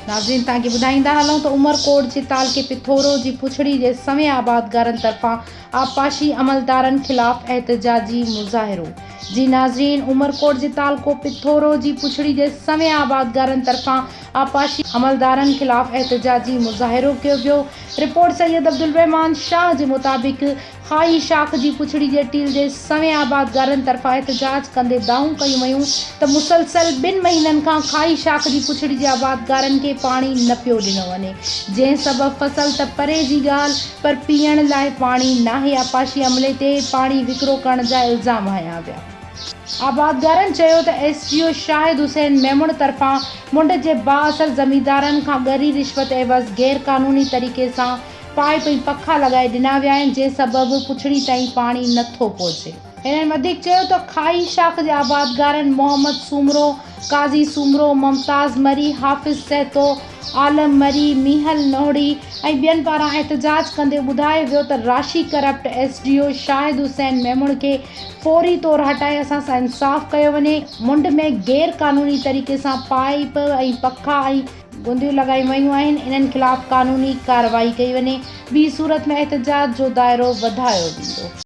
ناظرين تان کي ٻڌائيندا هلون ته عمر ڪوٽ جي تعلقي پٿورو جي پڇڙي جي سوين آبادگارن طرفان آبپاشي عملدارن خلاف احتجاجي مظاهرو جي ناظرين عمر ڪوٽ جي تعلقو پٿورو جي پڇڙي جي سوين آبادگارن طرفان آبپاشي عملدارن خلاف احتجاجي مظاهرو ڪيو ويو رپورٽ سيد عبدالرحمان شاهه جي مطابق خاهي شاخ جي پڇڙي ڄٽيل جي سوين آبادگارن طرفان احتجاج ڪندي دانهون ڪيون ويون ته مسلسل ٻن مهينن کان خاهي شاخ جي پڇڙي جي آبادگارن کي پاڻي نه پيو ڏنو وڃي جنهن سبب فصل ته پري جي ڳالهه پر پيئڻ لاء پاڻي ناهي آبپاشي عملي تي پاڻي وڪرو ڪرڻ جا الزام هنيا ويا. آبادگارن چيو ته S D O Shahid Hussain Memon طرفان منڊ جي بااثر زميندارن کان ڳري رشوت عيوض غير قانوني طريقي سان پائيپ ۽ پکا لڳائي ڏنا ويا آهن جنهن سبب پڇڙي تائين پاڻي نه ٿو پهچي. هنن وڌيڪ چيو ته کاهي شاخ جي آبادگارن محمد سومرو، قاضي سومرو، ممتاز مري، حافظ سهتو، عالم مري، ميهل نوهڙي ۽ ٻين پاران احتجاج ڪندي ٻڌايو ويو ته راشي corrupt S D O Shahid Hussain Memon کي فوري طور هٽائي اسان سان انصاف ڪيو وڃي، منڍ ۾ غير قانوني طريقي سان پائيپ ۽ پکا ۽. گنديون لڳايون ويون آهن انهن خلاف قانوني ڪارروائي ڪئي وڃي، ٻي صورت ۾ احتجاج جو دائرو وڌايو ويندو.